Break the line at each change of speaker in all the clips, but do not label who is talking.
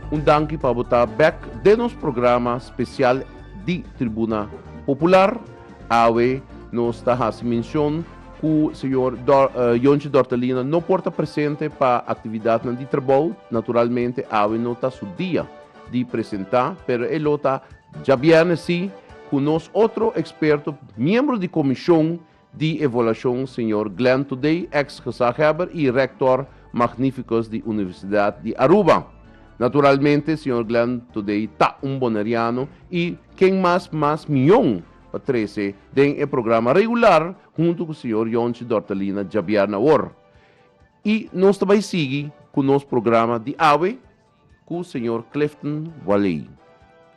Un danki pa bo ta bek den nos programa spesial di Tribuna Popular. Awe nos ta hasi menshon ku señor Yonchi Dortelina no por ta presente pa aktividatnan di trabou. Naturalmente awe no ta su dia di presentá, pero e lo ta djabièrnè si ku nos otro eksperto, miembro di komishon. di Evaluashon Señor Glenn Today, ex gezaghebber i rector magnificus di Universidad di Aruba. Naturalmente Señor Glenn Today ta un Boneriano i ken mas mas mion pa trece den e programa regular hunto cu Señor Yonchi Dortelina djabièrnè awor. I nos ta bay sigui cu nos programa di awe cu señor Clifton Waley,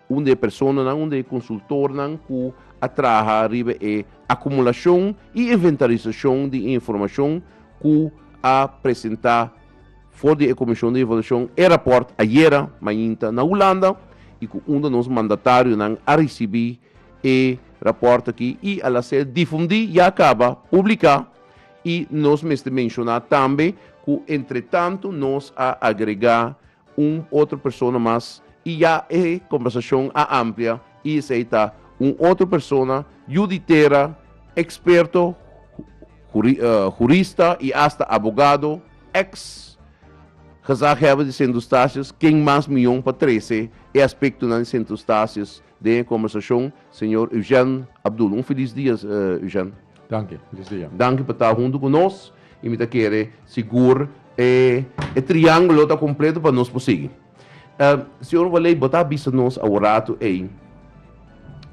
un de e personanan, un de e consultornan cu a traha riba e acumulacion y inventarisacion di e informacion cu a presenta for di e Comision di Evaluacion e rapport ayera mainta na Hulanda y cu unda nos mandatarionan a ricibi e rapport aki y a la ser difundi, ya caba, publica, I nos mester menshona tambe ku entretantu nos a agregá un otro persona mas i ya e kombersashon a amplia i esei ta un otro persona yu di tera, eksperto, hurista i asta abogado, eks gezaghèber di Sint Eustatius ken mas mion pa trese e aspektonan di Sint Eustatius Den e kombersashon señor Eugène Abdul. Un filis dia Eugène. Danki, filis dia. Danki pa ta huntu ku nos i mi ta kere sigur e e triangulo ta kompleto pa nos por sigui. Señor Waley bo ta bisa nos awo ratu ei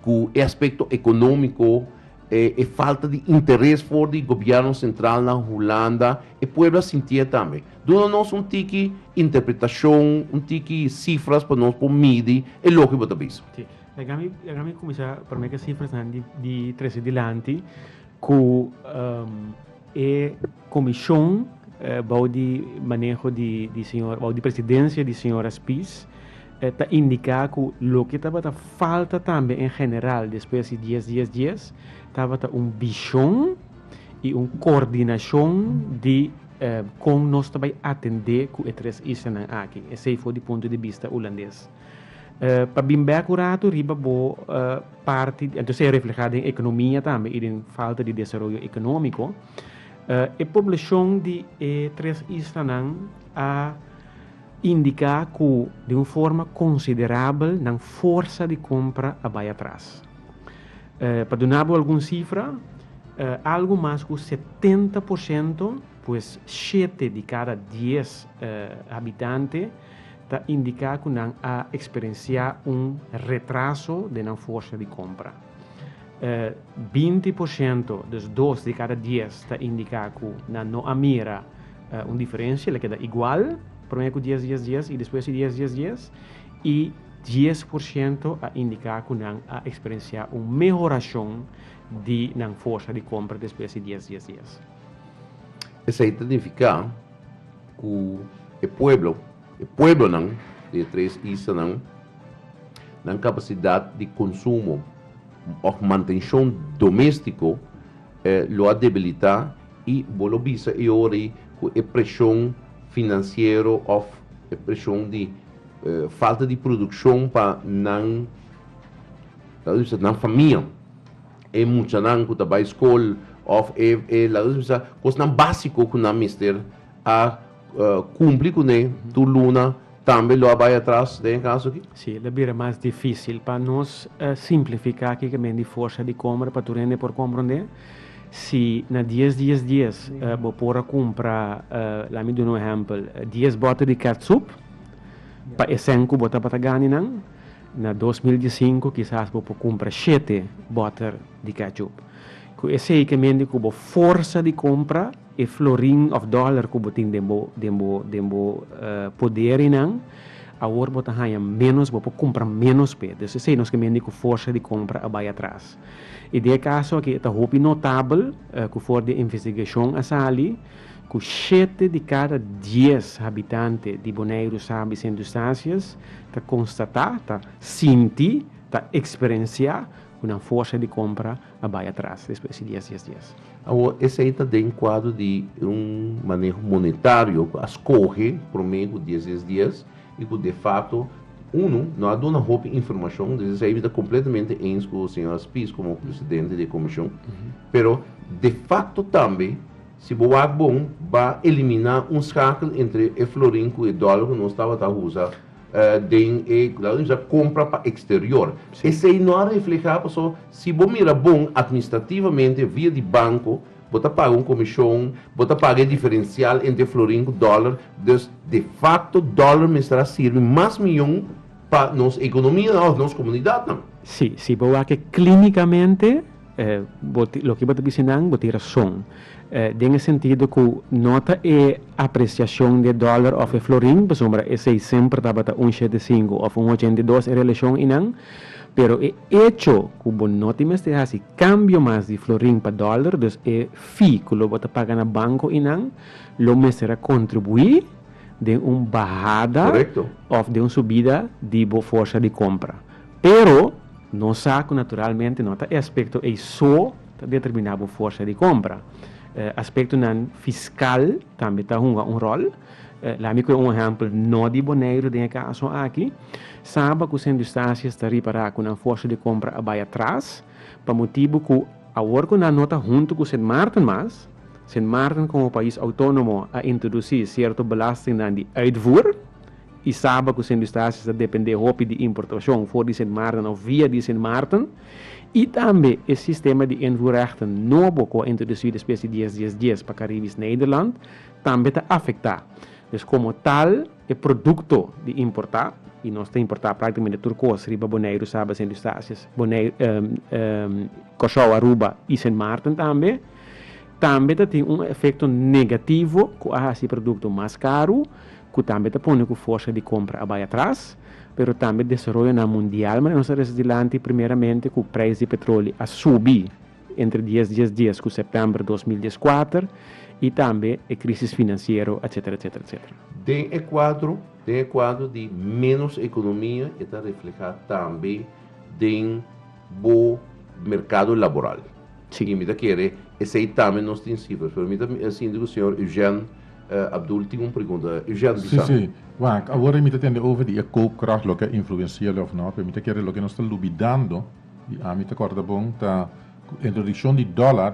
ku e aspekto ekonomiko, E falta di interes for di gobierno central na Hulanda e pueblo a sintié tambe. Duna nos un tiki interpretacion, un tiki cifras pa nos por midi e loke bo ta bisa. Si, e gami e gami cuminsa prome cu e cifrasnan di di trece dilanti cu e comision bou di maneho di di señor bou di presidencia di señora Spies, ta indica cu loke tabata falta tambe en general despues di dies dies dies tabata un vision y un coordinacion di con nos ta bay atende cu e tres islanan aki. Esey for di punto di bista Hulandes. Pa bin bek un rato riba bo parti di, entonces e refleha den economia tambe y den falta di desaroyo economico. E poblacion di e tres islanan a. Indiká ku den un forma konsiderabel nan forsa di kompra a bai atras. Pa duna bo algun sifra, algu mas ku setenta por siento, pues shete di kada dies habitante, ta indiká ku nan a eksperensiá un retraso den nan forsa di kompra. binti por shento, dus dos di kada dies, ta indiká ku nan no a mira un diferensia, el a keda igual promé ku dies dies dies i despues di dies dies dies, i dies por shento a indiká ku nan a eksperensiá un mehorashon di nan forsa di kompra despues di dies dies dies. Esei ta nifiká ku e pueblo, e pueblonan di e tres islanan, Nan capacidad di consumo of mantencion domestico lo a debilita y bo lo bisa e ora ey cu e presion financiero of e presion di falta di produccion pa nan laga mi sa nan famia, e muchanan cu ta bay school of e laga mi sa cosnan basico cu nan mester a. kumpli kuné tur luna tambe lo a bai atras den e kaso aki? Sí, lo a bira mas difísil. Pa nos simplifiká aki ke men di forsa di kòmpra pa tur hende por komprondé, si na dies dies dies bo por a kumpra, lami duna un ehèmpel, dies bòte di kètsup pa e sèn ku bo tabata gani nan, na dos mil diesinku kisas bo por kumpra shete bòter di kètsup. Ku esei ke men di ku bo forsa di kompra. E florin of dollar ku bo tin den bo den bo den bo poderinan awor bo ta haña menos bo por kumpra menos p'e dus esei nos ke mendi ku forsa di kompra a bai atras i den e kaso aki e ta hopi notabel ku for di e investigashon a sali ku shete di kada dies habitante di Boneiru Sabi Sintustasias ta konstatá ta sinti ta eksperensiá ku nan forsa di kompra a bai atras despues di dies, dies, dies. Awor esei ta den kuadro di un maneho monetario ku a skohe promé ku dies, dies, dies i ku de fakto unu no a duna hopi informashon. Des esei mi ta kompletamente eens ku señor Spies komo presidente di e komishon. Pero de fakto tambe si bo wak bon ba eliminá un skakel entre e florin ku e dòler ku nos tabata usa. Den e Gladwin sa compra pa exterior. Sí. Esey no a refleha paso si bo mira bon administrativamente via di banco bo ta paga un comision, bo ta paga e diferencial entre florin cu dollar, dus de facto dollar mester a sirbi mas miyon pa nos economianan of nos comunidadnan. Sí, si bo wak e clinicamente. Loke bo ta bisa nan, bo tin rason. Den e sentido ku no ta e apresiashon di e dòler òf e florin, pasobra esei semper tabata un shete sinku òf un ochenta i dos e relashon einan, pero e echo ku bo no tin mester hasi kambio mas di florin pa dòler, dus e fee ku lo bo ta paga na banko einan, lo mester a kontribuí den un bahada òf den un subida di bo forsa di kompra. Pero nos sa cu naturalmente no ta e aspecto ey so ta determina bo forsa di compra. Aspectonan fiscal tambe ta hunga un rol. Lami coe un ehempel no di Boneiru den e caso aki. Saba cu Sendustasia sta ripara cu nan forsa di compra a bay atras pa motibu cu awor cu nan no ta hunto cu Sint Maarten mas, Sint Maarten como pais autonomo a introduci cierto belastingnan di uitvoer I saba ku Sen Eustatius ta dependé hopi di importashon for di Sint Maarten òf via di Sint Maarten i tambe e sistema di invoerrechten nobo ku a introdusí despues di dies dies dies pa Karibisch Nederland tambe ta afektá. Dus komo tal e produkto di importá, i nos ta importá práktikamente tur kos riba Boneiru, Saba, Sint Eustatius, Kòrsou, Aruba i Sint Maarten tambe, tambe ta tin un efekto negativo ku a hasi e produkto mas karu cu tambe ta pone cu forsa di compra a bay atras, pero tambe desaroyonan mundial manera nos a resa dilanti, primeramente cu prijs di petroli a subi entre dies dies dies cu september dos mil dieskuater y tambe e crisis financiero, etcetera, etcetera, etcetera. Den e cuadro, den e cuadro di menos economia e ta refleha tambe den bo mercado laboral. Si. Y mi ta kere esey tambe nos tin cifras, pero mi ta sinti cu señor Eugène Abdul tin un pregunta. Eugène di sa. Si, si. Wak, awor mi ta tende over di e koopkrag loke a influensial'e of no, pero mi ta kere loke nos ta lubidando di ami ta kòrda bon ta ku introdukshon di dòlar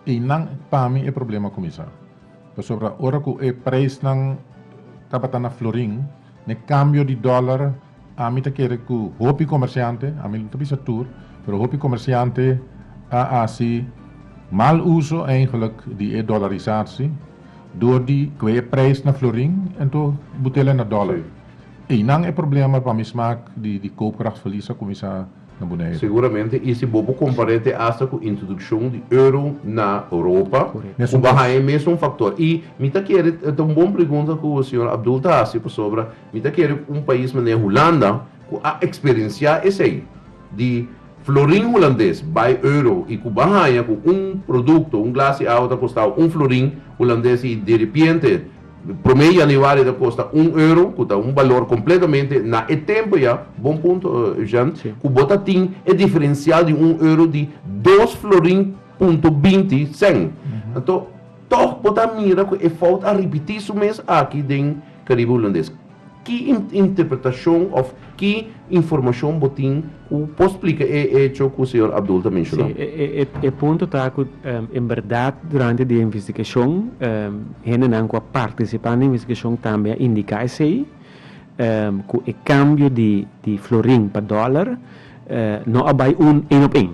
einan pa mi e problema kuminsá. Pasobra ora ku e preisnan tabata na florin, n'e kambio di dòlar Ami ta kere ku hopi komersiante, ami no ta bisa tur, pero hopi komersiante a hasi mal uso eigenlijk di e dolarisatsi dor di kue e preis na florin ento butela na dolar. Einan e problema pa mi smak di koopkrachtsverlies a kuminsá. na Bonaire. Seguramente y si bo por compar'e te hasta cu introduccion di euro na Europa cu baha e mesun factor. Y mi ta kere, ta un bon pregunta cu señor Abdul ta haci pasobra mi ta kere cu un pais manera Hulanda cu a experiencia esey di florin Hulandes bay euro y cu ba haya cu un producto, un glas di awa ta costao un florin Hulandes y diripiente Promé Januari ta kosta un euro, ku ta un balor kompletamente na e tempu ya, bon punto Eugen, ku bo ta tin e diferensial di un euro di dos florin punto binti sèn. Anto, tòg bo ta mira ku e fout a ripití su mes aki den Karibe Hulandes. Ki interpretashon òf ki informashon bo tin ku por splika e echo ku señor Abdul ta menshoná? Sí, e punto ta ku en bèrdat durante di e investigashon hendenan ku a partisipá na e investigashon tambe a indiká esei ku e kambio di florin pa dòler no a bai un ein op ein.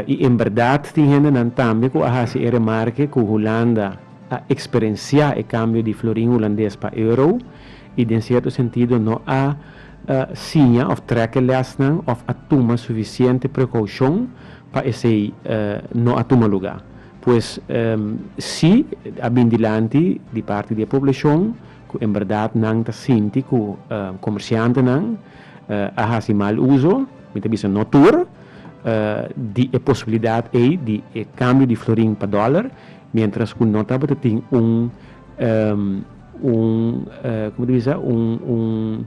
I en bèrdat tin hendenan tambe ku a hasi e remarke ku Hulanda a eksperensiá e kambio di florin hulandes pa euro i den sierto sentido no a siña òf trèke lèsnan òf a tuma sufisiente prekoushon pa esei no a tuma lugá. Pues si a bin dilanti di parti di e poblashon ku en bèrdat nan ta sinti ku komershantenan a hasi mal uso, mi ta bisa no tur, di e posibilidat ei di e kambio di florin pa dòler, Mientras cu no tabata tin un como ta bisa? Un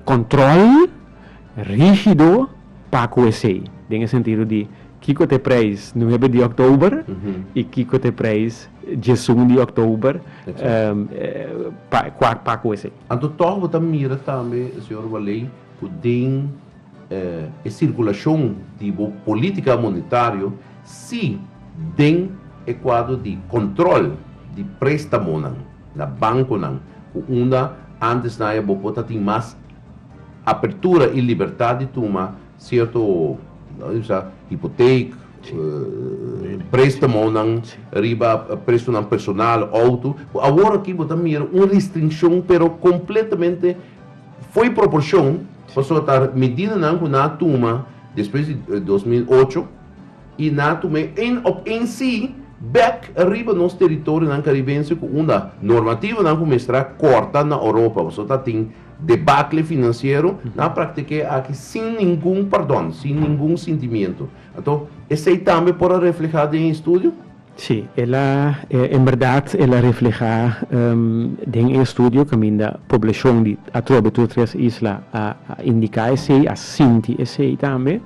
control rigido pa cu esey. Den e sentido di kico ta e prijs nuebe di oktober y kico ta e prijs djesun di oktober pa cu esey. Anto toch bo ta mira tambe, señor Waley, cu den. E sirkulashon di bo polítika monetario si den e kuadro di kòntròl di préstamonan na bankonan ku unda ántes naye bo por ta tin mas apertura i libertat di tuma sierto hipotek, préstamonan riba presunan personal, outo, ku awor aki bo ta mira un restrinshon pero kompletamente. Fo'i proporshon pasobra ta medidanan ku nan a tuma despues di dos mil ocho i nan a tum'é en òf en sí bèk riba nos teritorionan karibense ku unda normativanan ku mestrá kòrta na Oropa pasobra ta tin debakle finansiero, nan a praktik'é aki sin ningun pardòn, sin ningun sintimiento. Anto esei tambe por a reflehá den e estudio? Sí, el a, en berdad el a reflehá den e estudio kaminda poblashon di atrobe tur tres isla a indiká esei, a sinti esei tambe.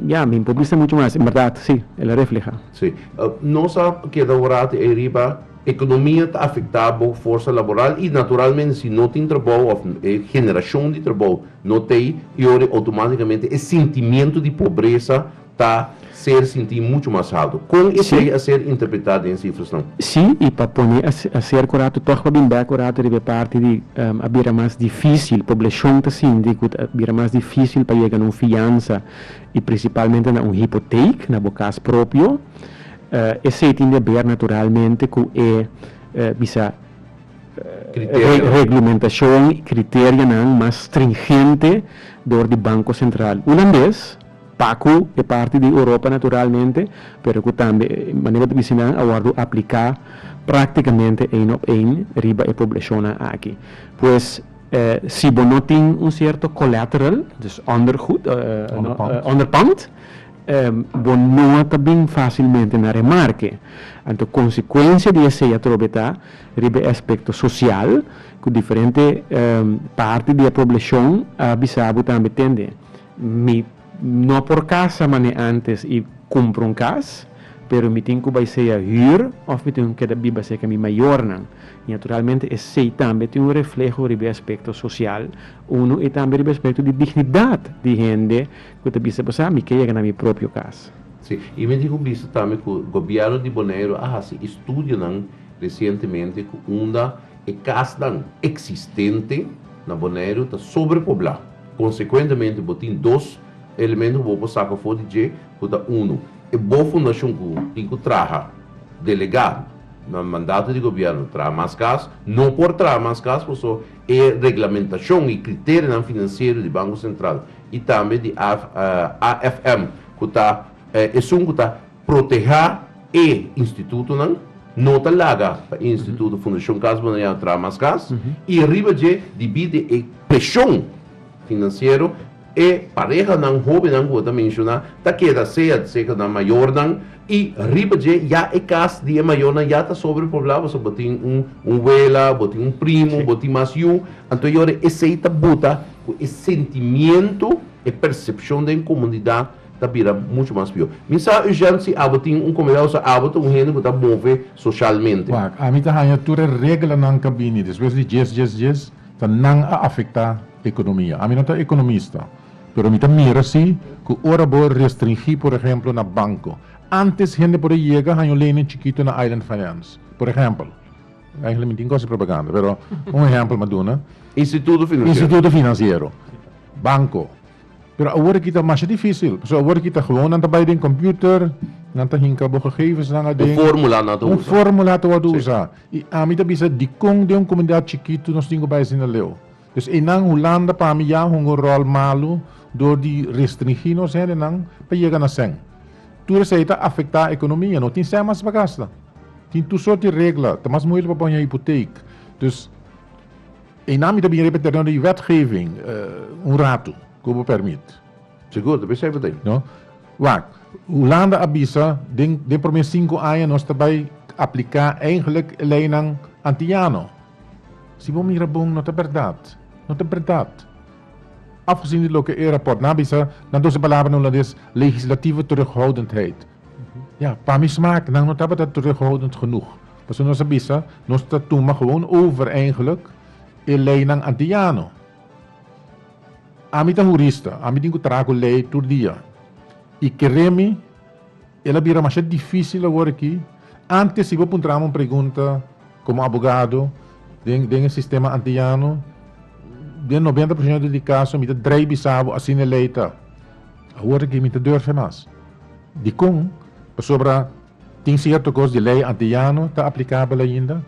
Ya, mi por bisa muchu mas, en berdad sí, el a reflehá. Sí. Nos a keda un rato ei riba, ekonomia ta afektá bo forsa laboral i naturalmente si no tin trabou òf e generashon di trabou no t'ei, yori outomátikamente e sintimiento di pobresa, ta ser sinti mucho mas halto. Con esey a ser interpreta den cifrasnan? Si, y pa pone a ser cu rato tog pa bin bek cu rato riba e parti di a bira mas dificil, poblacion ta sinti cu ta bira mas dificil pa yega na un fiansa y principalmente na un hypotheek, na bo cas propio. Esey tin di a ber naturalmente cu e bisa reglumentacion y criterianan mas stringente door di Banco Central. Hulandes. Pacu e parti di Europa naturalmente, pero cu tambe manera ta bisti nan a wordo aplica practicamente een op een riba e poblacionnan aki. Pues si bo no tin un cierto collateral, dus ondergoed, onderpand, bo no ta bin facilmente na remarke. Anto consecuencia di esey atrobe ta riba e aspecto social, cu diferente parti di e poblacion a bisa bo tambe tende. Mi no por casa mane antes y cumpra un cas, pero mi tin cu bay sea huur of mi tin cu keda biba seca mi mayornan. Y naturalmente esey tambe tin un refleho riba e aspecto social uno y tambe riba e aspecto di dignidad di hende cu ta bisa pasá mi ke yega na mi propio cas. Sí, y mi tin cu bisa tambe cu Gobierno di Bonaire a haci estudionan recientemente cu unda e casnan existente na Bonaire ta sobrepoblá. Konsekuentemente bo tin dos elemento ku bo por saka for di dje ku ta unu e bo fundashon ku tin ku traha delegado na mandato di gobièrnu traha mas kas no por traha mas kas paso e reglamentashon i kriterionan finansiero di Banko Sentral i tambe di AFM ku ta esun ku ta Protehá e institutonan, no ta laga pa e instituto Fundashon Kas Bo na Yao traha mas kas, i riba dje, dibí di e preshon finansiero, e parehanan, hóbennan ku bo ta menshoná, ta keda sea seka nan mayornan, i riba dje ya e kas di e mayornan ya ta sobrepoblá, pasobra bo tin un wela, bo tin un primo, bo tin mas yu, anto e ora esei ta buta ku e sentimiento, e persepshon den komunidat. ta bira mucho mas pior. Mi sa Eugène si abo tin un comedor so abo ta un hende cu ta move socialmente. Wak, ami ta haña tur e reglanan ca bini despues di djes djes djes ta nan a afecta economia. Ami no ta economista pero mi ta mira si cu ora bo restringi por ehemplo na banco antes hende por a yega haña un lening chikito na Island Finance por ehempel, eigenlijk mi tin cosa propaganda pero un ehempel mi a duna. Instituto financiero. Instituto financiero, banco. Pero awor aki ta masha difícil, pasobra awor aki ta gewoon nan ta bai den computer, nan ta hinca bo gegevensnan aden. Un fórmula nan ta usa. Un fórmula ta wòrdu usa. I ami ta bisa dikon den un komunidat chikitu nos tin ku bai asinda leu. Pues einan Hulanda pa mi ya hunga un ròl malu dor di restringí nos hendenan pa yega na sèn. Tur esei ta afektá ekonomia. No tin sèn mas pa gasta. Tin tur sort di regla. Ta mas muhel pa pon yon hipoteek. Dus. E nan mi ta bin repetir no di wetgeving un ratu ku bo permit. Segur, ta besef bo ta ei. Wak, Hulanda a bisa den den promé sinku aña nos ta bai apliká eigenlik e leinan antiyano. Si bo mira bon no ta bèrdat. No ta bèrdat. Afgezien di loke e rapòrt nan a bisa, na doce palabra na hulandes, legislatieve terughoudendheid. Ja, pa mi smaak, nan no tabata terughoudend genoeg. Pasobra nos a bisa, nos ta tuma gewoon over eigenlijk e leinan antillano. Ami ta hurista, ami tin ku traha ku lei tur dia. I keré mi, el a bira masha difísil awor aki. Ántes si bo puntra mi un pregunta komo abogado den den e sistema antillano, den noventa por siento di kaso mi ta drai bisa bo asina e lei ta. Awor aki mi ta durfia mas. Dikon? Pasobra tin sierto kos di lei anteyano ta aplikabel ainda,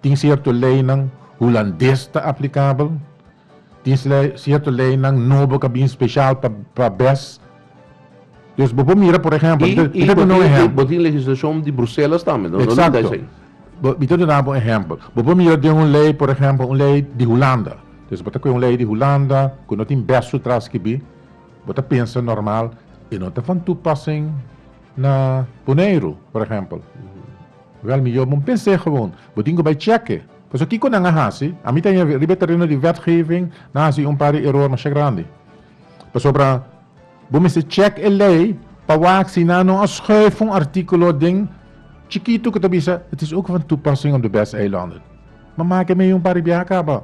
tin sierto leinan hulandes ta aplikabel, tin sierto leinan nobo ku a bin speshal pa bes. Dus bo por mira por ehèmpel, mi ta duna un ehèmpel. I bo tin legislashon di Bruselas tambe, no limita esei. Exacto. Mi ta duna bo un ehèmpel. Bo por mira den un lei, por ehèmpel un lei di Hulanda. Bo ta kue un lei di Hulanda ku no tin bes su tras kibi. Bo ta pensa normal, e no ta van toepassing na Boneiru, por ehempel. Wel mihor bo pens'é gewoon. Bo tin ku bai chèk'é. Pasobra kiko nan a hasi? Ami ta yami riba e tereno di wetgeving, nan a hasi un par di eror masha grandi. Pasobra bo mester chèk e lei pa wak si nan no a schuif un artíkulo den chikitu ku ta bisa, Het is ook van toepassing op de Westeilanden. Bo mak e meyu un par di biaha kaba.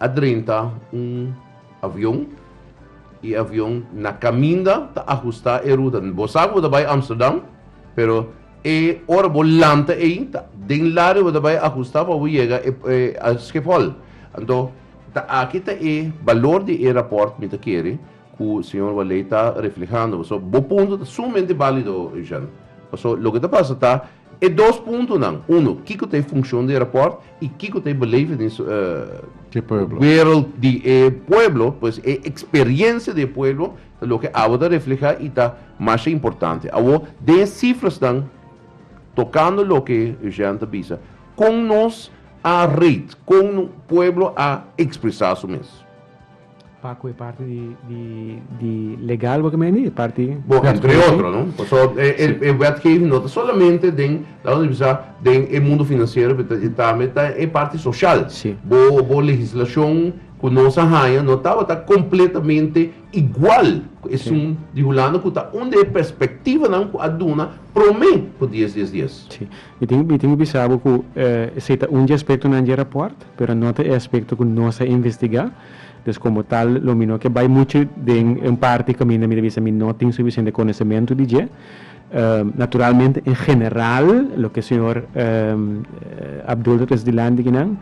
A drenta un avion y avion na caminda ta ajusta e ruta. Bo sa cu bo ta bay Amsterdam, pero e ora bo lanta ey ta den lado y bo ta bay ajusta pa bo yega a Schiphol. Anto ta aki ta e balor di e rapport mi ta kere cu señor Waley ta reflehando. Paso bo punto ta sumamente balido Eugène. Paso loke ta pasa ta. E dos puntonan, uno, kiko ta e funkshon di e rapòrt i kiko ta e beleving di. E pueblo. Wereld di e pueblo, pues e eksperiensia di e pueblo ta loke awo ta reflehá i ta masha importante. Awo, den e sifrasnan tokando loke Eugène ta bisa, kon nos a rate, kon pueblo a ekspresá su mes? Paco e parti di di di legal bo kemeni e parti. Bo entre otro no paso e e e wetgeving no ta solamente den laat ons bisa den e mundo financiero pero ta tambe ta e parti social Si. bo bo legislacion cu nos a haña no tabata completamente igual cu esun di Hulanda cu ta un di e perspectivanan cu a duna prome cu dies dies dies. Si. Mi tin mi tin ku bisa bo ku esei ta un dje aspektonan dje rapòrt, pero no ta e aspekto ku nos a investigá. Des komo tal lo mi no ke bai muchu den un parti kaminda mi ta bisa mi no tin sufisiente konosementu di dje. Naturalmente en general loke e señor Abdul ta trese dilanti akinan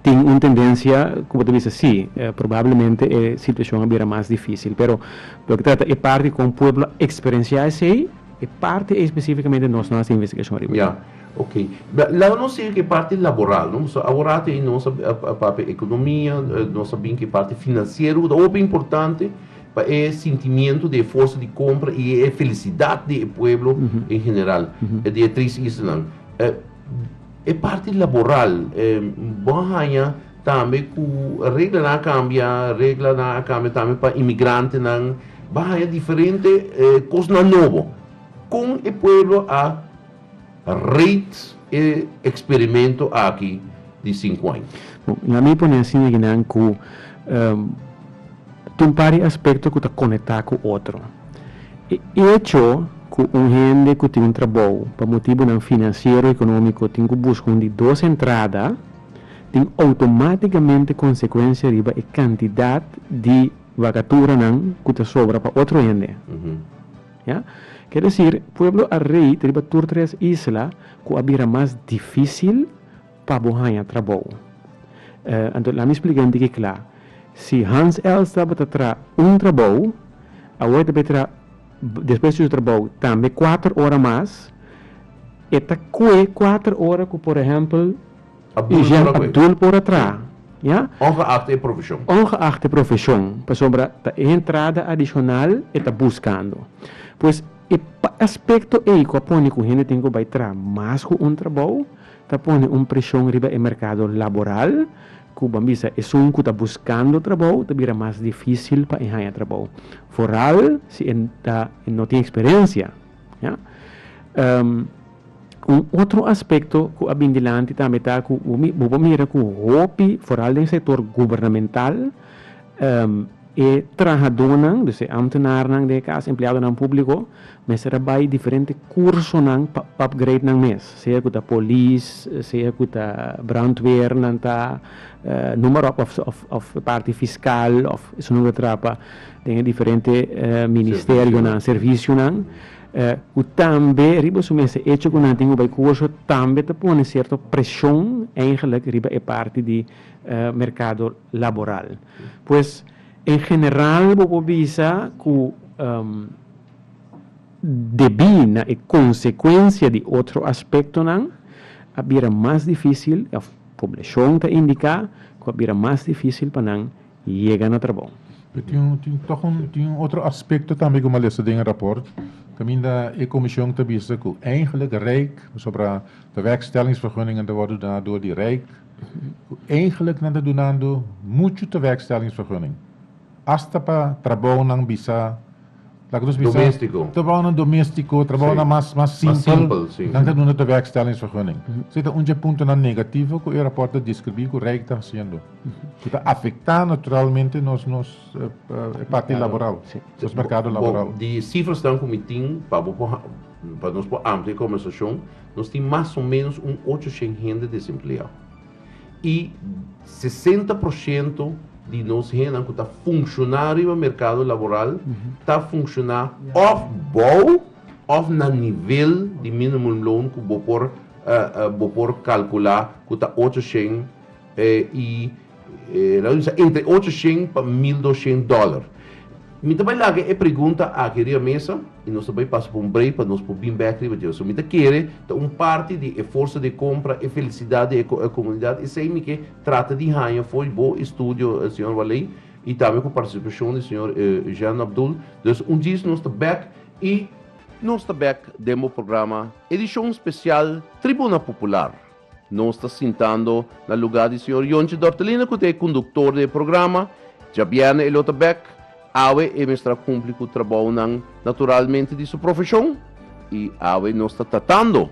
tin un tendensia ku bo ta bisa si, probablemente e situashon a bira mas difísil, pero loke trata e parti kon pueblo a eksperensiá esei, E parti ei spesífikamente nos no a hasi investigashon ariba. Ya. Oke. Laga nos siga ku e parti laboral, no? Pasobra awor ei nos a papia ekonomia, nos a bin ku e parti finansiero ku ta hopi importante pa e sintimiento di e forsa di kompra i e felisidat di e pueblo en general, di e tres islanan. E parti laboral, bo a haña tambe ku reglanan a kambia, reglanan a kambia tambe pa imigrantenan, bo a haña diferente kosnan nobo. Kon e pueblo a rate e eksperimento aki di sinku aña? Bo, lamin pone asin na guinan ku. Tin un par di aspekto ku ta konektá ku otro. E echo ku un hende ku tin un trabou pa motibunan finansiero, ekonómiko tin ku buska un di dos entrada tin outomátikamente konsekuensia riba e kantidat di vakaturanan ku ta sobra pa otro hende. Ya ke desir pueblo a rei ta riba tur tres isla ku a bira mas difísil. pa bo haña trabou. Anto lami splika un tiki kla. Si Hans Els tabata tra un trabou, awor e ta bay tra despues di su trabou tambe kuater ora mas, e ta kue kuater ora ku por ehèmpel Eugen Abdul por a tra, ja? Ongeacht e profeshon. Ongeacht e profeshon, pasobra ta e entrada adishonal e ta buskando. Pues e aspekto ei ku a pone ku hende tin ku bay tra mas ku un trabou, Ta pone un preshon riba e merkado laboral, ku ban bisa esun ku ta buskando trabou ta bira mas difísil pa e haña trabou, foral si e ta e no tin eksperensia. Un otro aspekto ku a bin dilanti tambe ta ku bo por mira ku hopi, foral den sektor gubernamental, E trahadónan, dus e amtenarnan den e kas, empleadonan públiko, mester a bai diferente kursonan pa upgrade nan mes, sea ku ta polis, sea ku ta brandweer nan ta, noem maar op, òf e parti fiskal òf esun ku a trapa den e diferente ministerionan, servisionan, ku tambe riba su mes e echo ku nan tin ku bai kurso tambe ta pone sierto preshon, eigenlik riba e parti di merkado. laboral. Pues en general bo por bisa cu debí na e consecuencia di otro aspectonan a bira mas dificil of poblacion ta indica cu a bira mas dificil pa nan yega na trabou. Pero tin un tin toch un tin un otro aspecto tambe cu malesa den e rapport. Caminda e comision ta bisa cu eigenlijk Rijk, pasobra ta werkstellingsvergunningen ta wordo da door di Rijk, Eigenlijk nan ta dunando muchu tewerkstellingsvergunning, hasta pa trabounan bisa, laga nos bisa, trabounan doméstiko, trabounan mas simpel, nan ta duna tewerkstellingsvergunning. So e ta un dje puntonan negativo ku e raport ta deskribí ku Rijk ta hasiendo, ku ta afektá naturalmente nos parti laboral, nos merkado laboral. Di sifrasnan ku mi tin pa bo por. Pa nos por amplia e conversacion, nos tin mas o menos un ocho shen hende desempleá. Y sesenta por ciento di nos hendenan cu ta funcioná riba mercado laboral ta funcioná of bou of na nivel di minimum loan cu bo por bo por calculá cu ta ocho shen y E na usa entre ocho shén pa mil dos shén dòler. Mi ta bai laga e pregunta aki riba mesa i nos ta bai pasa pa un break pa nos por bin bèk riba dje. So mi ta kere ta un parti di e forsa di kompra, e felisidat di e komunidat esei mi ke trata di haña fo'i bo e studio señor Waley i tambe ku partisipashon di señor Eugène Abdul. Dus un djis nos ta bèk i. Nos ta bèk den bo programa edishon spesial Tribuna Popular. Nos ta sintando na lugá di señor Yonche Dortelina ku ta e konduktor di e programa. Djabièrnè e lo ta bèk. Awe e mester a kumpli ku trabounan naturalmente di su profeshon i awe nos ta tratando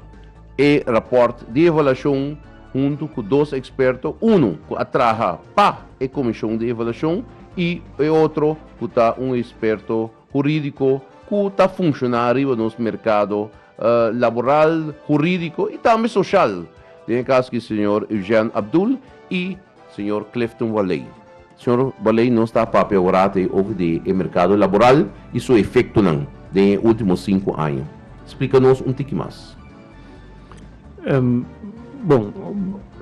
e rapòrt di evaluashon huntu ku dos eksperto, unu ku a traha pa e komishon di evaluashon i e otro ku ta un eksperto hurídiko ku ta funshoná riba nos merkado laboral, hurídiko i tambe soshal den e kaso di señor Eugène Abdul i señor Clifton Waley. Señor Waley nos ta a papia ora ta e oki di e merkado laboral i su efektonan den e último sinku aña. Splika nos un tiki mas. Bon,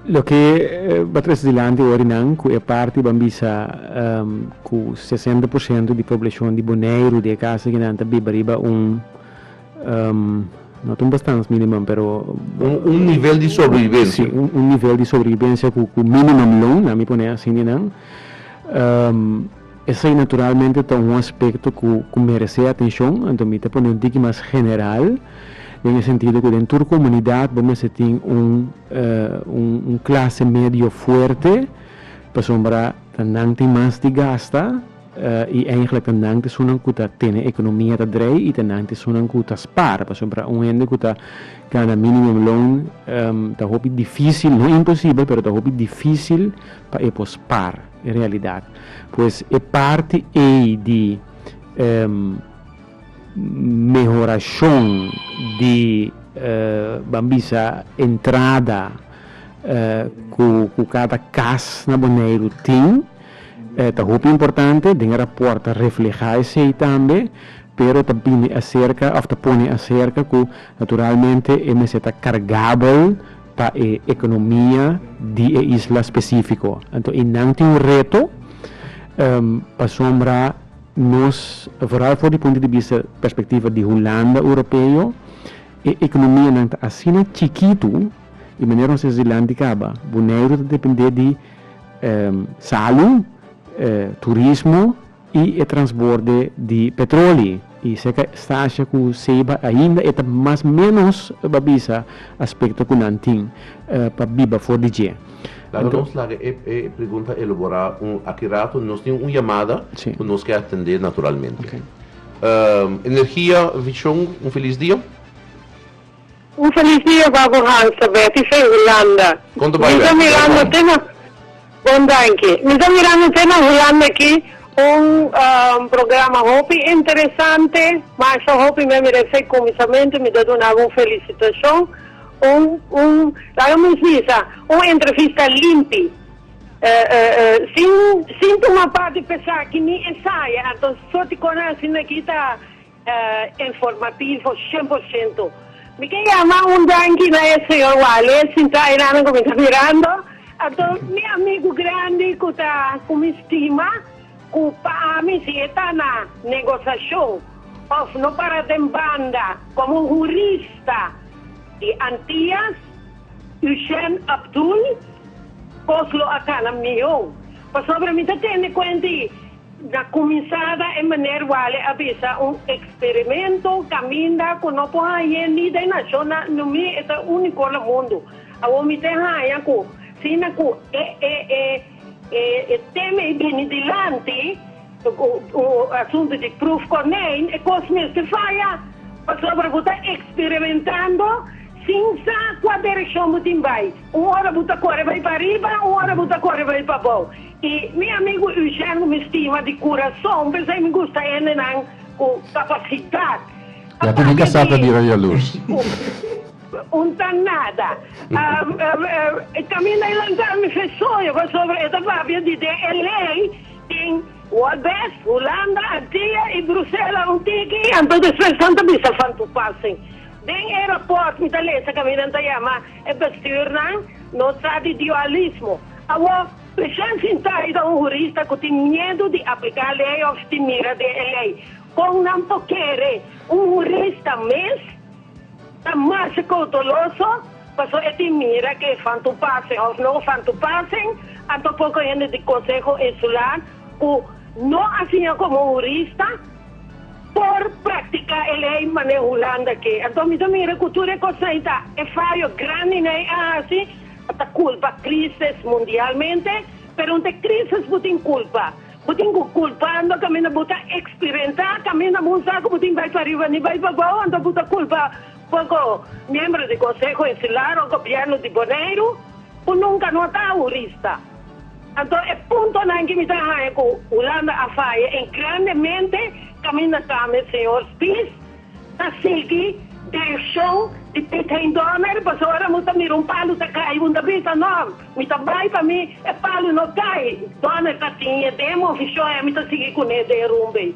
loke bo a trese dilanti ora di nan ku e parti bo a bisa ku sesenta por siento di poblashon di Boneiru di e kaso di nan ta biba riba un. No ta un bastans minimum pero. Un nivel di sobrevivensia. Si, un nivel di sobrevivensia ku minimum loon, lami pone asi di nan. Esei naturalmente ta un aspekto ku meresé atenshon, anto mi ta pone un tiki mas general, den e sentido ku den tur komunidat bo mester tin un klase medio fuerte, pasobra ta nan tin mas di gasta. I eindelijk ta nan tesunnan ku ta tene ekonomia ta drei i ta nan tesunnan ku ta spar. Pasobra para un hende ku ta gana minimum loan ta hopi difísil, no imposibel, pero ta hopi difísil pa e por spar. E realidat. Pues e parti ei di mehorashon di ban bisa entrada ku kada kas na Boneiru tin. E ta hopi importante den e raport ta refleha esei tambe, pero ta bini aserka of ta pone aserka ku naturalmente e mester ta kargabel pa e ekonomia di e isla spesifiko. Anto i nan tin un reto pasobra nos vooral for di punto di bista perspektiva di Hulanda Europeo e ekonomianan ta asina chikitu di manera nos ta disi Land di Kaba, Boneiru ta depende di. salu, turismo i e transborde di petroli. I seka stasha ku Ceiba ainda e ta mas ménos ba bisa aspekto ku nan tin pa biba for di dje. Laga nos laga e pregunta eloborá un aki ratu. Nos tin un yamada ku nos ke atendé naturalmente. Energia Vision, un felis dia. Un felis dia ba bo Hansa, Betty Fe, Hulanda. Konto bai Betty, bai Juan. Bon danki. Mi ta mirando te na Hulanda aki un programa hopi interesante, ma esei hopi mi a mira esei kuminsamentu mi ta dunaba un felisitashon, un un laga mi bisa un entrevista limpi, sin sin tuma parti pesá ki ni esaya, anto so ti kona asina aki ta Informativo shen por shento. Mi ke yama un danki na e señor Wale sinta ayina nan ku mi ta mirando anto mi amigu grandi ku ta ku mi stima ku pa ami si e ta na negosashon òf no para den banda komo un hurista di Antias Eugène Abdoul kos lo a kana mihó pasobra mi ta tende kuenti Na cuminsada e Meneer Wale a bisa un experimento caminda cu no por hañ'é ni den nacionnan no mi e ta unico na mundo. Awor mi te haña cu sina cu e e e e e teme e bini dilanti, u asunto di proef konijn, e cos mester faya pasobra bo ta experimentando sin sa cua direccion bo tin bay. Un ora bu ta kore bai pa riba, un ora bu ta kore bai pa bou. I mi amigu Eugène ku mi stima di kurason, p'esei mi gusta hendenan ku kapasidat. Ya ku di kasá ta bira yalus. Un ta nada. E kaminda e lanta mi fe soño pasobra e ta papia di den e lei tin Waldbest, Hulanda, Antia i Brusela un tiki, anto despues nan ta bisa Van Toepassing. Den e rapòrt mi ta lesa kaminda nan ta yama. E bestuurnan no sa di dualismo. Awor, President Sintay ta un hurista ku tin miedu di apliká lei òf di mira den e lei. Kon nan por kere un hurista mes ta mas koutoloso paso e tin mira ke van tu pasen òf no van tu pasen? Anto poko hende di konseho insula ku no a siña komo un hurista Por practica e ley manera Hulanda ke. Anto mi ta mira cu tur e cos ahi ta e fayo grandi n'ey a haci a ta culpa crisis mundialmente, pero n'ta e crisis bo tin culpa. Bo tin cu culpa anto caminda bo ta experimenta caminda bo sa cu bo tin bay pa riba ni bay pa bao, anto bo ta culpa poco miembro di Conseho Insular o Gobierno di Boneiru. Bo nunca no a ta ahorista. Anto e puntonan ki mi ta haña ku Hulanda a faya e grandemente kaminda tambe señor Spies ta sigui direkshon di Piet Hein Donner pasobra ora mi ta mira un palu ta kai i mi ta bisa no mi ta bai pa mi e palu no kai Donner ta tin e demo vishon ei mi ta sigui kuné den rumbe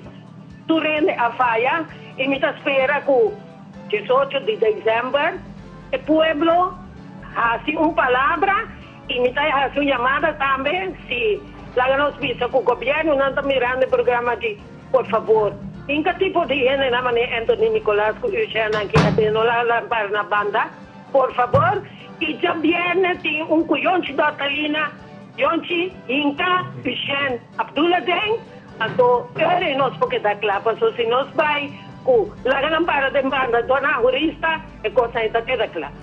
tur hende a faya i mi ta spera ku diesocho di december e pueblo hasi un palabra. Y mi ta haci un llamada tambe si laga nos bisa cu gobiernonan ta mirando e programa aki, por favor, inca tipo di hendenan manera Anthony Nicolas cu Eugène aki a den no laga lampar na banda, por favor, y djabièrnè tin un cu Yonchi Dortalina, Yonchi, Hinca, Eugène, Abdula den, anto ora e nos por keda cla, paso si nos bay cu laga lampara den banda dor na ahorista e cosnan e ta keda cla.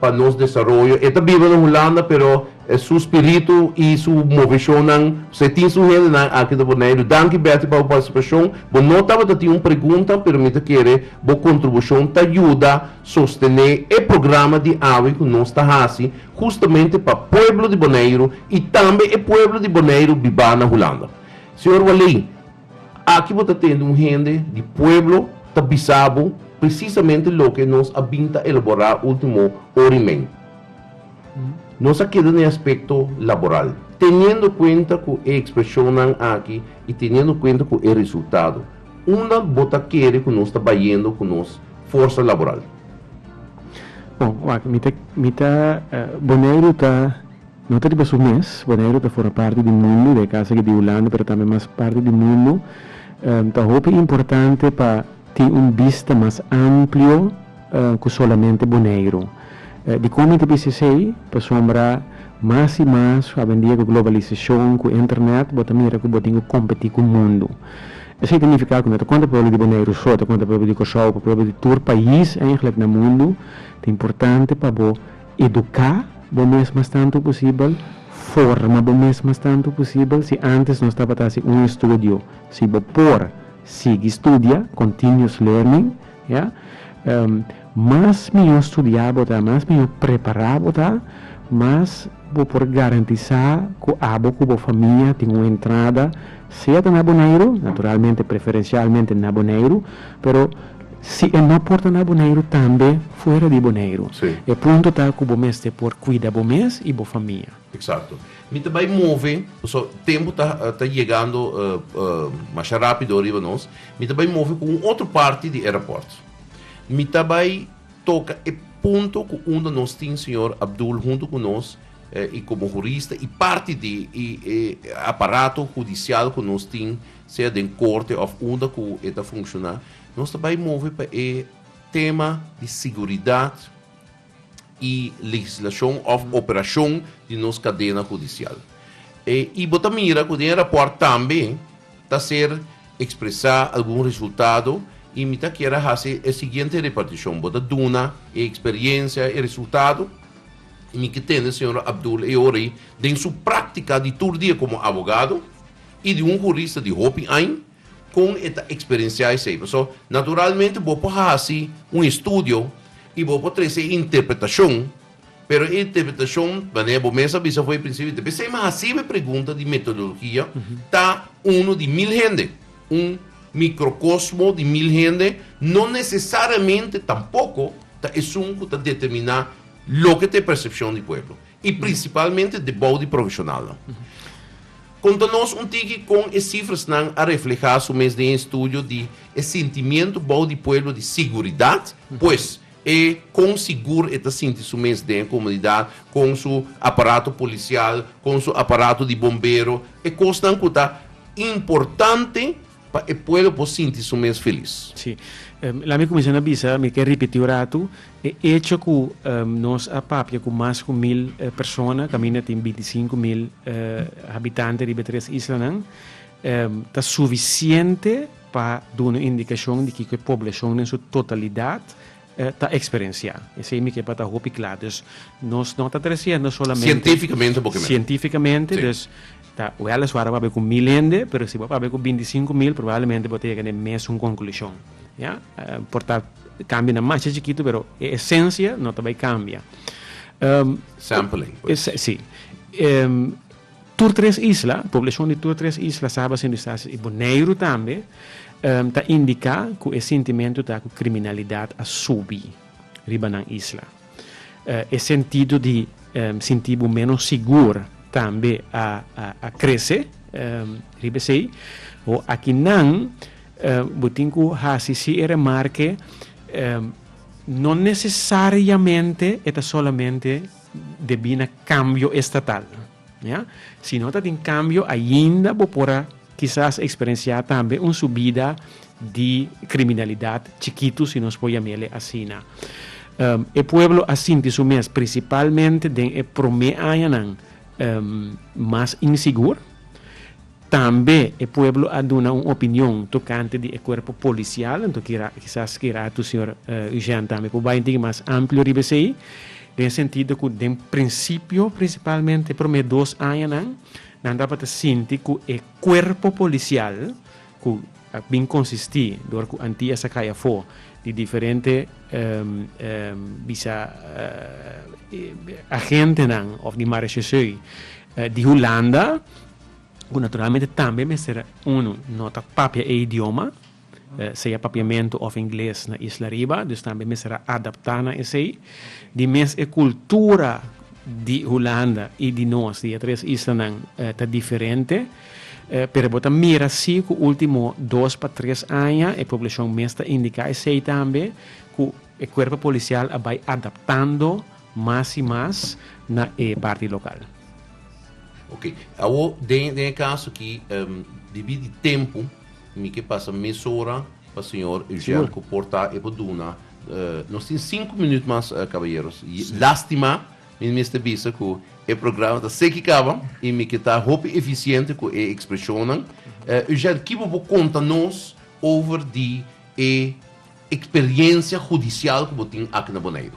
pa nos desaroyo. E ta biba na Hulanda, pero su spiritu i su moveshonnan, pasobra e tin su hendenan aki ta por neilu. Danki Betty pa bo partisipashon. Bo no tabata tin un pregunta, pero mi ta kere bo kontrubushon ta yuda sostené e programa di awe ku nos ta hasi hustamente pa pueblo di Boneiru i tambe e pueblo di Boneiru bibá na Hulanda. Señor Walley, Aki bo ta tende un hende di pueblo ta bisa bo presisamente loke nos a bin ta elaborá último orimen. Nos a keda na e aspekto laboral. Teniendo kuenta ku e ekspreshonnan aki i teniendo kuenta ku e resultado, unda bo ta kere ku nos ta bayendo ku nos forsa laboral? Bon, wak, mi ta, mi ta, Boneiru ta. No ta riba su mes, Boneiru ta for a parti di mundu, de kasa aki di Hulanda, pero tambe mas parti di mundu. Ta hopi importante pa tin un bista mas amplio ku solamente Boneiru. Di kon mi ta bisa esei? Pasobra mas i mas hobendia ku globalisashon, ku internet, bo ta mira ku bo tin ku kompetí ku mundu. Esei ta nifiká ku no ta konta pueblo di Boneiru so, ta konta pueblo di Kòrsou, pueblo di tur pais, eindelijk na mundu. Ta importante pa bo. Eduká bo mes mas tantu posibel, forma bo mes mas tantu posibel. Si ántes nos tabata hasi un estudio, si bo por, sigui studia, continuous learning, ya. Mas mihó studiá bo ta, mas mihó prepará bo ta, mas bo por garantisá ku abo ku bo famia tin un entrada, sea ta na Boneiru, naturalmente, preferencialmente na Boneiru, pero. Si e no por ta na Boneiru tambe fuera di Boneiru. E punto ta ku bo mester por kuida bo mes i bo famia. Eksakto. Mi ta bai move, pasobra tempu ta ta yegando masha rápido riba nos. Mi ta bai move ku un otro parti di e rapòrt. Mi ta bai toka e punto ku unda nos tin señor Abdul huntu ku nos i komo hurista i parti di e aparato hudisial ku nos tin sea den corte of unda cu e ta funciona, nos ta bay move pa e tema di siguridad y legislacion of operacion di nos cadena judicial. E y bo ta mira cu den e rapport tambe ta ser expresa algun resultado y mi ta kier a haci e siguiente reparticion. Bo ta duna e experiencia, e resultado y mi ke tende señor Abdul e ora y den su practica di tur dia como abogado, I di un hurista di hopi añ kon e ta eksperensiá esei. Pasobra naturalmente bo por hasi un estudio i bo por trese e interpretashon, pero e interpretashon, manera bo mes a bisa for e prinsipio, ta p'esei mi hasiba e pregunta di metodologia, ta uno di mil hende, un mikrokosmo di mil hende, no nesesariamente tampoko ta esun ku ta determiná loke ta e persepshon di pueblo. i principalmente debou di profesionalnan. Conta nos un tiki con e cifrasnan a refleha su mes den e estudio di e sentimiento bou di pueblo di siguridad, pues e con sigur e ta sinti su mes den e comunidad con su aparato policial, con su aparato di bombero, e cosnan cu ta importante. Pa e pueblo por sinti su mes felis. Sí. Lami cuminsa na bisa, mi ke ripiti un ratu, e echo cu nos a papia cu mas cu mil persona, caminda tin binti i sinku mil habitanti riba e tres islanan, ta suficiente pa duna indicacion di kico e poblacion na su totalidad ta eksperensiá. Esei mi ke pa ta hopi kla. Dus nos no ta tresiendo solamente. Sientífikamente bo ke mira. Sientífikamente, dus ta wèleswar bo a papia ku mil hende, pero si bo a papia ku binti sinku mil probablemente bo ta yega n'e mesun konklushon. Ya. Por ta kambia na masha chikitu pero e esensia no ta bai kambia. Sampling pues. Si. Tur tres isla, poblashon di tur tres isla, Saba, Sint Eustatius i Boneiru tambe, ta indiká ku e sintimentu ta ku kriminalidat a subi riba nan isla. E sentido di sinti bo ménos sigur tambe a krese. Riba esei, akinan bo tin ku hasi si e remarke, no nesesariamente e ta solamente. Debí na kambio estatal. Ya? Si no ta tin kambio ainda bo por a kisas eksperensiá tambe un subida di kriminalidat chikitu, si nos por yam'el'e asina. E pueblo a sinti su mes, prinsipalmente den e promé añanan, mas insigur. Tambe e pueblo a duna un opinion tokante di e kuerpo polisial, anto kisas kirato señor Eugène tambe por bai un tiki mas amplio riba esei, den e sentido ku den prinsipio prinsipalmente e promé dos añanan nan tabata sinti ku e kuerpo polisial ku a bin konsistí dor ku Antia sa kai afó di diferente bisa agentenan òf di marechausseu di Hulanda ku naturalmente tambe mester unu no ta papia e idioma, sea papiamentu òf ingles na isla riba, dus tambe mester a adaptá na esei. Di mes e kultura di Hulanda i di nos, di e tres islanan, ta diferente, pero bo ta mira si ku último dos pa tres aña e poblashon mes ta indiká esei tambe, ku e kuerpo polisial a bai adaptando mas y mas na e parti local. Ok, awor den den e caso aki debí di tempo mi ke pasa mesora pa señor Eugène cu por ta e por duna nos tin cinco minuut mas caballeros y lastima mi mester bisa cu e programa ta seki caba y mi ke ta hopi eficiente cu e expresionnan Eugène kibo bo conta nos over di e experiencia judicial cu bo tin aki na Boneiru?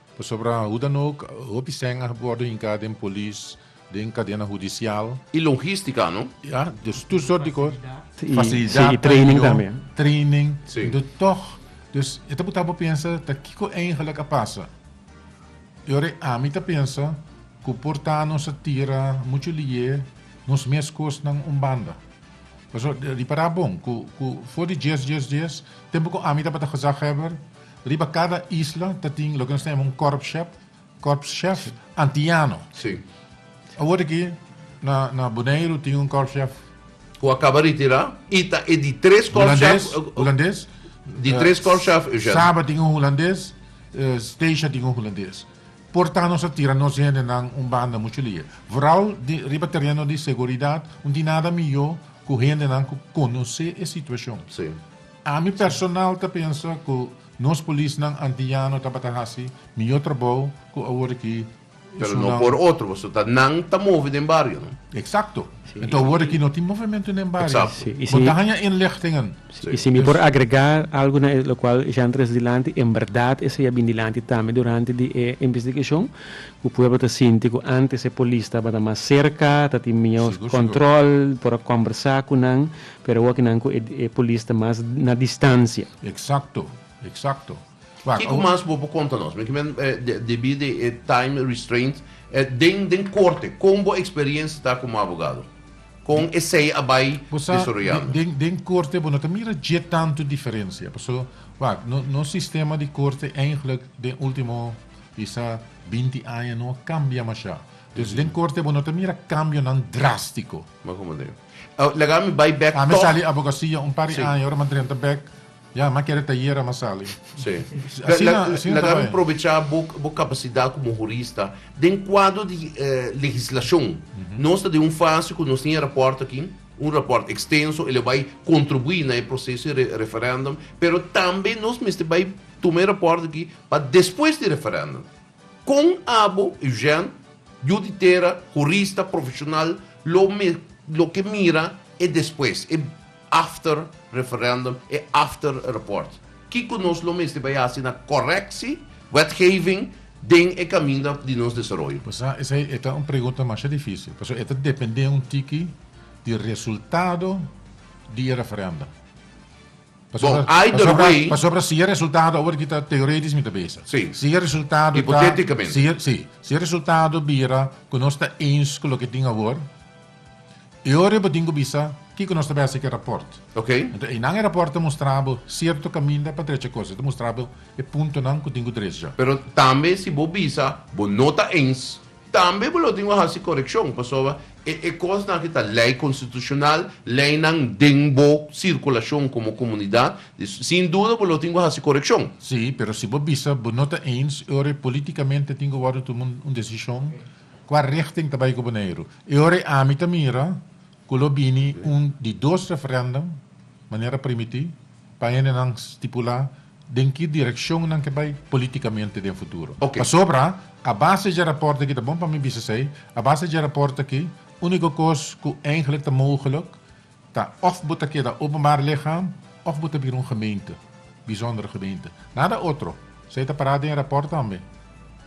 Pasobra hoe dan ook, hopi sèn a wòrdu hinká den polis, den kadena hudisial. I logístika, no? Ya, dus tur sort di kos. Fasilidat. I training tambe. Training. Pero tòg, dus e ta por tabata pensa ta kiko eingelik a pasa. I ora ami ta pensa ku por ta nos a tira muchu liye nos mes kosnan un banda. Pasobra ripará bon ku for di dies, dies, dies, tempu ku ami tabata gezagheber, Riba cada isla ta tin loke nos ta yama un korpschef, korpschef antiano. Sí. Awor aki na na Boneiru tin un korpschef Cu a caba retirá y ta e di tres korpschef. Hulandes, Hulandes. Di eh, tres korpschef, Eugène. Saba tin un Hulandes, eh, Stacia tin un Hulandes. Porta nos a tira nos hende nan un banda mucho lia. Vooral di, riba terreno di seguridad, un tin nada mijo cu hende nan cu conoce e situacion. Sí. Ami personal ta pensa ku nos polisnan antiano tabata hasi mihó trabou ku awor aki Pero no por otro, pasobra ta nan ta move den bario, no? Eksakto. Enton awor aki no tin movementu den bario. Eksakto. Sí, i si. Bo ta haña inlichtingen. Sí, i si mi por agregá algu na e lokual Jean tres dilanti, en bèrdat esei a bini dilanti tambe durante di e investigashon, ku pueblo ta sinti ku antes e polis tabata mas serka, ta tin mihó kòntròl, por a kòmbersá ku nan. Pero awor kinan cu e polis ta mas na distancia. Exacto, exacto. Kico mas bo por conta nos, men kimen debi di e time restraint den den corte, con bo experiencia ta como abogado? Con esey a bay desarrollando? Bo sa, den corte bo no ta mira dje tanto diferencia, paso wak, nos sistema di corte eindelijk den ultimo bisa binti aña no a cambia masha, dus den corte bo no ta mira cambionan drastico. Ma como ta? Laga mi bai bek tog. Mi sali abogasia un par di aña ora mi a drenta bek ya mi a kere ta yera mi a sali. Asina asina ta bai. Probecha bo bo capacidad como jurista den cuadro di legislacion nos ta den un fase cu nos tin e rapport aki un rapport extenso el a bai contribui na e proceso di referendum pero tambe nos mester bai tuma e rapport aki pa despues di referendum. Kon abo, Eugène, yu di tera, hurista profeshonal, lo lo ke mira e despues, e after referèndum, e after rapport? Kiko nos lo mester bai hasi na korekshi wetgeving den e kaminda di nos desaroyo? Pues a esei e ta un pregunta masha difisil, pasobra e ta dependé un tiki di resultado di e referèndum. Bon, either Pasobra, way, pasobra si e resultado, awor aki ta teoretisch mi ta besa. Sí. Si e resultado ta, Hipoteticamente. si e, si, si e resultado bira cu nos ta eens cu loke tin awor, e ora bo tin cu bisa kico nos ta besa cu e rapport. ok, Enton einan e rapport ta mustra bo cierto caminda pa drecha cosa, ta mustra bo e puntonan cu tin cu drecha. pero tambe si bo bisa bo no ta eens, Tambe bo lo tin ku hasi korekshon, pasobra e e kosnan aki ta lei konstitushonal, leinan den bo sirkulashon komo komunidat, di sin duda bo lo tin ku hasi korekshon. Sí, pero si bo bisa bo no ta eens, e ora politikamente tin ku wòrdu tumá un desishon, kua rechting ta bai ku Boneiru? E ora ami ta mira ku lo bini un di dos referèndum, manera primití, pa hendenan stipulá Den ki direkshon nan ke bai politikamente den futuro. Pasobra a base dje raport aki ta bon pa mi bisa esei, a base dje raport aki uniko kos ku eingelek ta mogeluk ta of bo ta keda openbare ligham of bo ta bira un gemeente, bizondere gemeente. Nada otro. Esei ta para den e raport tambe.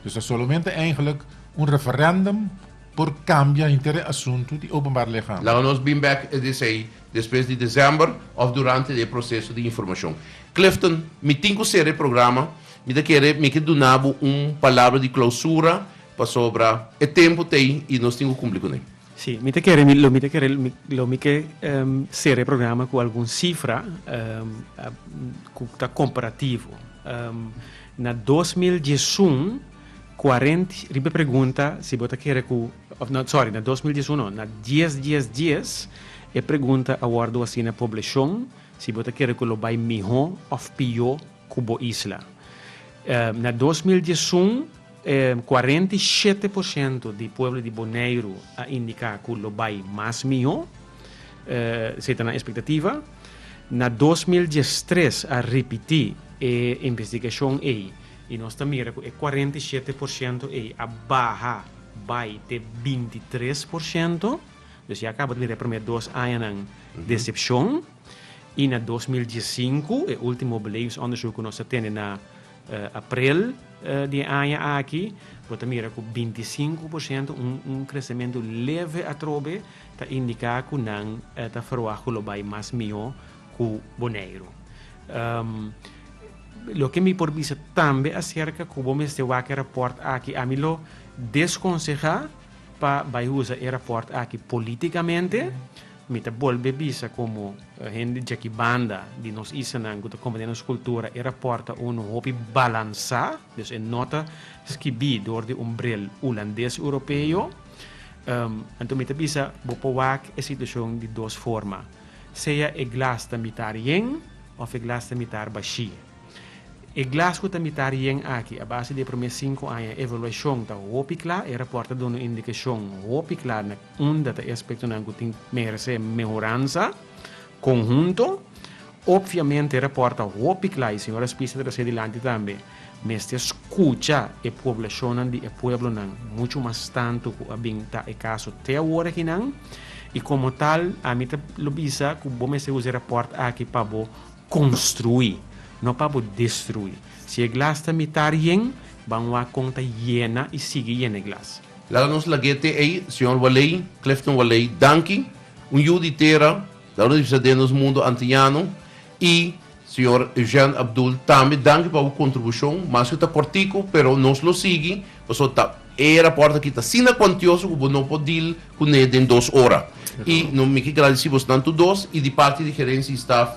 Dus ta solomente eingelek un referendum por kambia henter e asuntu di openbare ligham. Laga nos bin bek e di esei. Despues di December of durante e proceso di informacion. Clifton, mi tin cu cera e programa, mi ta kere mi ke duna bo un palabra di clausura pasobra e tempo ta ey y nos tin cu cumpli cun'e. Si, mi ta kere mi lo mi ta kere lo mi ke cera e programa cu algun cifra cu ta comparativo. Na dos mil diesun cuarent riba e pregunta si bo ta kere cu of na sorry na dos mil dies uno na dies dies dies e pregunta a wordo haci na poblashon si bo ta kere cu lo bay miho of pio cu bo isla em na dos mil dies un em cuarenta y shete por shento di pueblo di Boneiru a indica cu lo bay mas miho e esey ta nan expectativa na dos mil dies tres a ripiti e investigashon ey y nos ta mira cu e cuarenta y shete por shento ey a baha. bai te binti tres por shento. Dus ya kaba ta bira e promé dos añanan desepshon. I na dos mil dies sinku, e último belevingsondersuk ku nos a tene na aprel di e aña aki, bo ta mira ku binti sinku por shento, un un kresementu leve atrobe, ta indiká ku nan ta verwag ku lo bai mas mihó. cu Boneiru. Loke mi por bisa tambe acerca cu bo mester wak e rapport aki, ami lo desconseha pa bay usa e rapport aki politicamente. Mi ta bolbe bisa como hende djaki banda di nos isanan cu ta comprende nos cultura, e rapport ta un hopi balansa, dus e no ta skibi door di un bril Hulandes Europeo. Anto mi ta bisa bo por wak e situacion di dos forma. Sea e glas ta mitar yen of e glas ta mitar bashi. E glas cu ta mitar yen aki, a base di e prome sinku aña evaluacion ta hopi cla. E rapport ta duna un indicacion hopi cla na unda ta e aspectonan cu tin merece mehoransa conhunto. Obviamente e rapport ta hopi cla y señor Aspis ta trace dilanti tambe. Mester scucha e poblacionnan di e pueblonan, mucho mas tanto cu a bin ta e caso te awor aki nan, y como tal ami ta lo bisa cu bo mester usa e rapport aki pa bo construi, no pa bo destrui. Si e glas ta mita rien, ban wak con ta yena y sigui yena e glas. Laga nos lag'é te ei, Señor Waley, Clifton Waley, danki, un yu di tera, laga nos bisa den nos mundo antiñano, Y, Señor Eugène Abdul, tambe danki pa bo contribucion, maske ta cortico, pero nos lo sigui, pasobra ta e rapport aki ta asina cuantioso cu bo no por deal cune den dos ora. Y no mi ke gradeci bos nan tur dos y di parti di Gerencia y Staff,